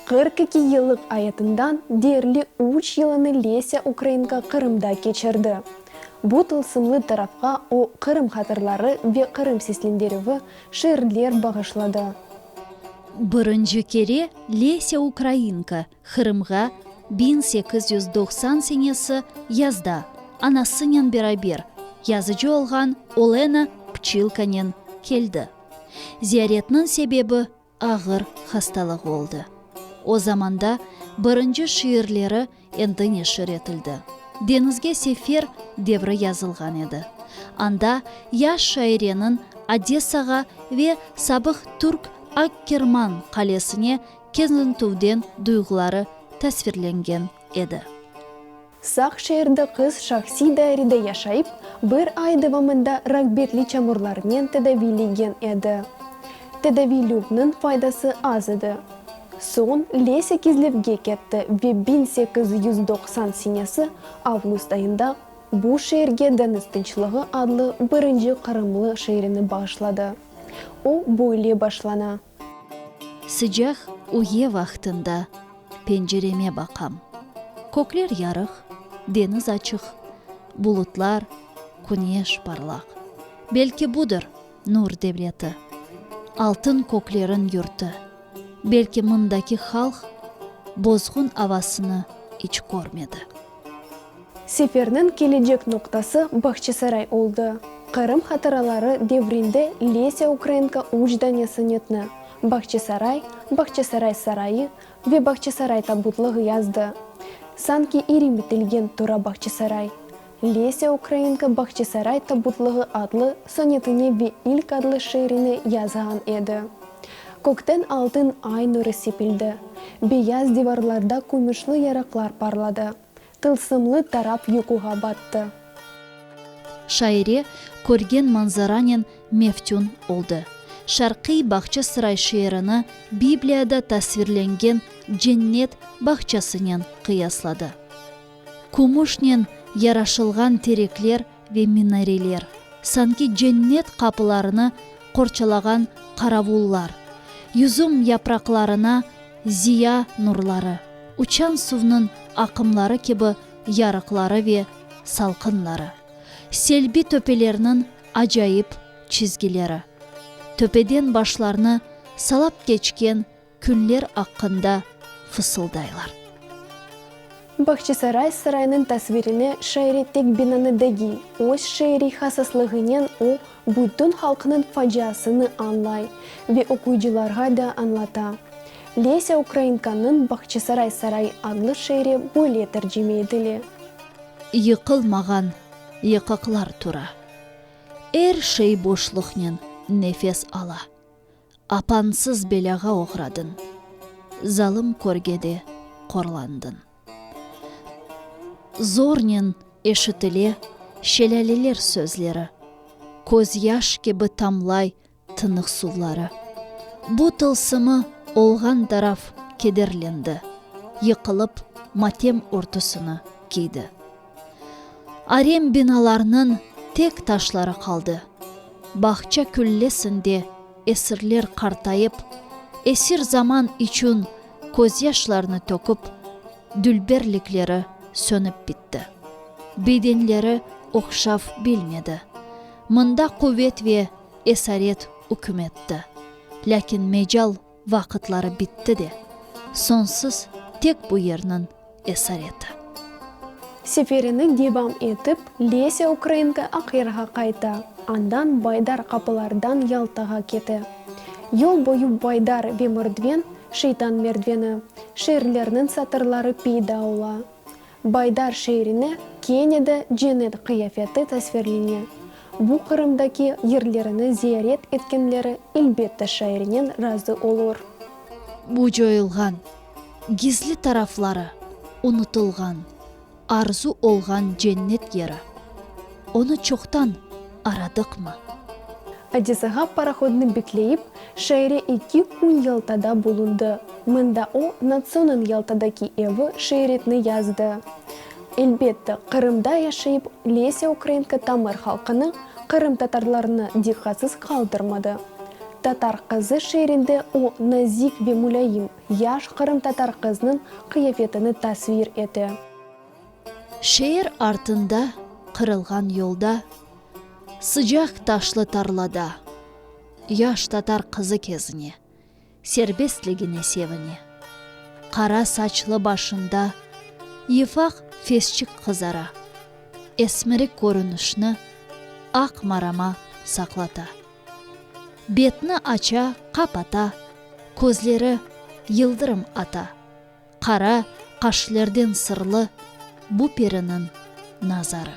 Qırq iki yıllıq ayatından deyerli üç yılını Lesâ Ukrainka Qırımda keçirdi. Bu tılsımlı tarafqa o Qırım hatırları ve Qırım seslendirüvi, Şiirler bağışladı. Birinci kere Lesâ Ukrainka Qırımğa biñ sekiz yüz doqsan senesi yazda anasınen beraber yazıcı olğan Olena Pçilkanen keldi. Ziyaretniñ sebebi ağır hastalığı oldı. O zamanda birinci şiirleri Endi neşir etildi. Deñizge sefer devri yazılğan edi. Anda yaş şaireniñ Odessağa ve sabıq türk Akkerman qalesine keznitüvden duyğuları tasvirlengen edi. Saq şeerde qız şahsiy dairede yaşayıp, bir ay devamında ragbetli çamurlarnen tedaviylengen edi. Tedaviy lüvniñ faydası az edi. Soñ Lesâ Kizlevge ketti ve biñ sekiz yüz doqsan senesi avgust ayında bu şeerge Deñiz tınçlığı adlı birinci qırımlı şiirini bağışladı. O böyle başlana. Sıcaq üye vaqtında pencereme baqam. Kökler yarıq, deñiz açıq, bulutlar, küneş parlaq. Belki budır, Nur devleti. Altın kökleriñ yurtu. Belki mındaki halq bozğun avasını iç körmedi. Seferniñ kelecek noqtası Bağçasaray oldı. Qırım hatıraları devrinde Lesâ Ukraenko üç dane sonetni, Bağçasaray, Bağçasaray sarayı ve Bağçasaray tabutlığı yazdı. Sanki iri bitilgen Tura Bağçasaray. Lesâ Ukrainka Bahçesaray tabutlığı adlı sonetini ve ilk adlı şiirini yazğan edi. Kökten altın ay nuru sepildi, beyaz divarlarda kümüşli yarıqlar parladı, tılsımlı taraf yuquğa battı. Şaire körgen manzaranen meftün oldı. Şarqiy Bahçesaray şiirini Bibliyada tasvirlengen cennet bahçasınen qıyasladı. Kümüşnen yaraşılğan terekler ve minareler, sanki cennet qapılarını qorçalağan qaravullar, yüzüm yapraqlarına ziya nurları, uçan suvnıñ aqımları kibi yarıqları ve salqınları, selbi töpelerniñ acayip çizgileri, töpeden başlarnı salap keçken küller aqqında fısıldaylar. Bağçasaray saraynıñ tasvirine şairi tek binanı degiy, öz şiiriy hasaslığınen o, bütün halqnıñ faciasını añlay ve oquyıcılarğa da añlata. Lesâ Ukrainkanıñ Bağçasaray sarayı adlı şiiri böyle tercime etile. Yıqılmağan yıqıqlar tura. Er şey boşluqnen nefes ala. Apansız belâğa oğradın. Zalım körgede qorlandın. Zornen eşitile şelâleler sözleri, Köz yaş kibi tamlay tınıq suvları. Bu tılsımı olğan taraf kederlendi, Yıqılıp matem örtüsini kiydi. Arem binalarnıñ tek taşları qaldı. Bağça küllesinde esirler qartayıp, esir zaman içün közyaşlarını töküp, dülberlikleri sönüp bitti. Bedenleri oqşav bilmedi. Mında quvet ve esaret üküm etti. Lâkin mecal Vaqıtları bitti de, sonsız tek bu yerniñ esareti. Seferini devam etip, Lesâ Ukrainka Aqyarğa qayta, andan Baydar qapılardan Yaltağa kete. Yol boyu Baydar ve Mordven, Şeytan merdveni, şiirlerniñ satırları peyda ola. Baydar şeerine kene de cennet qıyafeti tasvirlene. Bu Qırımdaki yerlerini ziyaret etkenleri elbette şairnen razı olur. Bu coyulğan, gizli tarafları unutılğan, arzu olğan cennet yeri. Onı çoqtan aradıqmı? Adisağa parahodnı bekleyip, şaire eki kün Yaltada bulundı. Mında o, Natsonıñ Yaltadaki evi şiiretni yazdı. Elbette, Qırımda yaşayıp, Lesâ Ukrainka tamır halqını, qırımtatarlarnı diqqatsız qaldırmadı. Tatar qızı şiirinde o, nazik ve mulâyim, yaş qırımtatar qıznıñ qıyafetini tasvir ete. Şeer artında, qırılğan yolda, Sıcaq taşlı tarlada, Yaş tatar qızı kezine, Serbestligine sevine. Qara saçlı başında Yıfaq fesçik qızara, Esmirik körünişni Aq marama saqlata. Betni aça, qapata, Közleri yıldırım ata. Qara qaşlerden sırlı bu periniñ nazarı.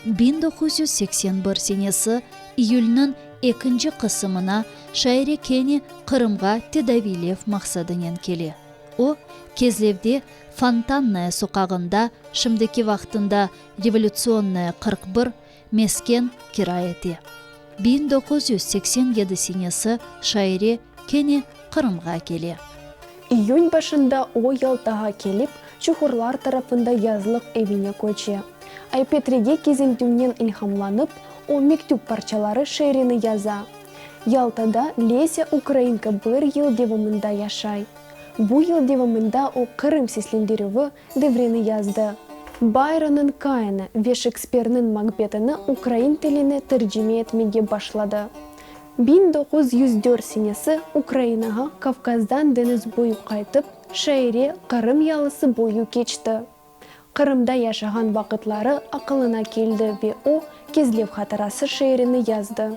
Biñ doquz yüz seksen bir senesi iyülniñ ekinci qısımına şaire kene Qırımğa tedaviylev maqsadınen kele. O, Kezlevde Fontannaya soqağında, şimdiki vaqtında Revolyutsiyonnaya qırq bir, Mesken kira ete. Biñ doquz yüz seksen yedi senesi şaire kene Qırımğa kele. İyün başında o Yaltağa kelip, çuhurlar tarafında yazlıq evine köçe. Aypetrege kezintüvnen ilhamlanıp, o mektüp parçaları şeerini yaza. Yaltada Lesâ Ukrainka bir yıl devamında yaşay. Bu yıl devamında o Qırım seslendirüvi Devrini yazdı. Bayronıñ Kainı ve Şekspirniñ Makbetini ukrain tiline tercime etmege başladı. Biñ doquz yüz dört senesi Ukrainağa Kavkazdan deñiz boyu qaytıp, şaire Qırım yalısı boyu keçti. Qırımda yaşağan vaqıtları aqılına keldi ve o, Kezlev hatırası şiirini yazdı.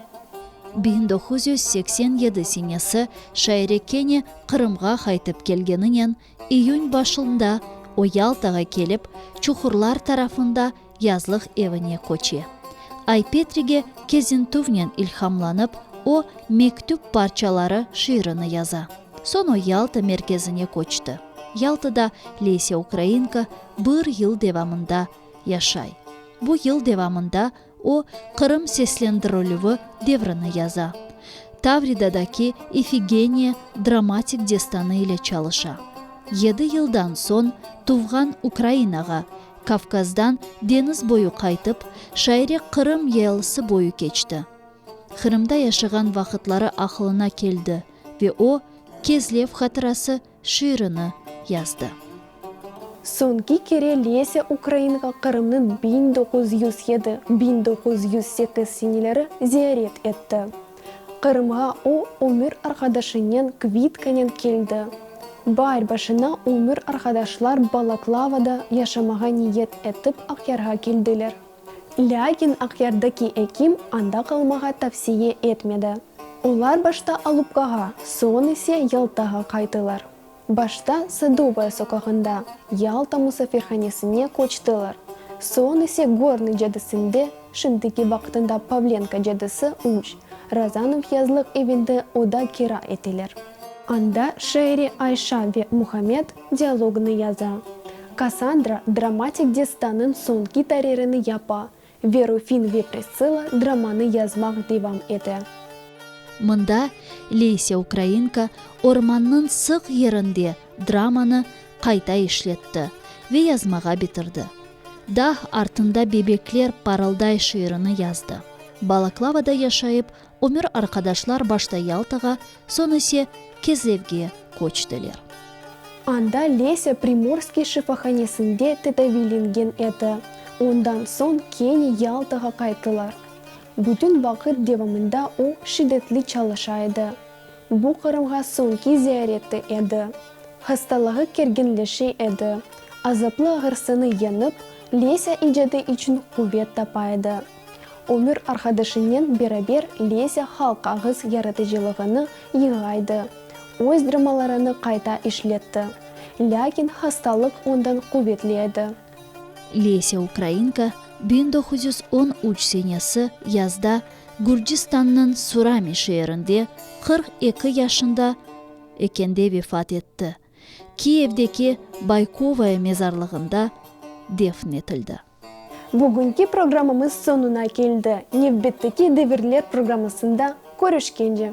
Biñ doquz yüz seksen yedi senesi şaire kene Qırımğa qaytıp kelgeninen İyün başında o Yaltağa kelip, Çuhurlar tarafında yazlıq evine köçe. Ay Petrige Kezintuvnen ilhamlanıp, o Mektüp parçaları şiirini yaza. Soñ o Yalta merkezine köçti. Yaltada Leyse Ukrainka bir yıl devamında yaşay. Bu yıl devamında O, Qırım seslendirilüvi devrini yaza. Tavridadaki Ifigeniya dramatik destanı ile çalışa. Yedi yıldan soñ tuvğan Ukrainağa, Kavkazdan deñiz boyu qaytıp, şaire Qırım yaylısı boyu keçti. Qırımda yaşağan vaqıtları aqılına keldi ve o, Kezlev hatırası, şiirini yazdı. Soñki kere Lesâ Ukrainâğa Qırımnıñ biñ doquz yüz yedi, biñ doquz yüz sekiz seneleri ziyaret etti. Qırımğa o, ömür arqadaşınen Kvitkanen keldi. Baar başına ömür arqadaşlar Balaklavada yaşamağa niyet etip Aqyarğa keldiler. Lâkin Aqyardaki ekim anda qalmağa tavsiye etmedi. Olar başta Alupkağa, soñ ise Yaltağa qaytılar. Başta Sadovaya soqağında Yalta musafirhanesine köçtiler, soñ ise Gornıy cadısinde, şimdiki vaqıtında Pavlenka cadısıü, Razanov yazlıq evinde oda kira eteler. Anda Şeeri Ayşa ve Muhammed, Dialognı yaza. Kassandra dramatik destanıñ soñki taririni yapa ve Rufin ve Prissila dramanı yazmaq devam ete. Mında Leysia Ukrainka ormannıñ sıq yerinde dramanı qayta işletti ve yazmağa bitirdi. Dağ artında bebekler parılday şiirini yazdı. Balaklavada yaşayıp Ömür arqadaşlar başta Yaltağa, soñ ise Kezlevge köçtiler. Anda Lesia Primorskiy şifahanesinde tedaviylengen edi, ondan soñ kene Yaltağa qayttılar. Bütün vaqıt devamında o, şiddetli çalışa edi. Bu Qırımğa soñki ziyareti edi. Hastalığı kerginleşe edi. Azaplı ağırsını yeñip, Lesia icadı içün quvet tapa edi. Ömür arqadaşınen beraber Lesâ halq ağız yaratıcılığını yığaydı, öz dramalarını qayta işletti. Lâkin hastalıq ondan quvetli edi. Lesâ Ukrainka biñ doquz yüz on üç senesi yazda Gürcistannıñ Surami şeerinde, qırq eki yaşında ekende vefat etti. Kiyevdeki Baykovaya mezarlığında defn etildi. Bugünki programımız soñuna keldi. Nevbetteki devirler programmasında körüşkence.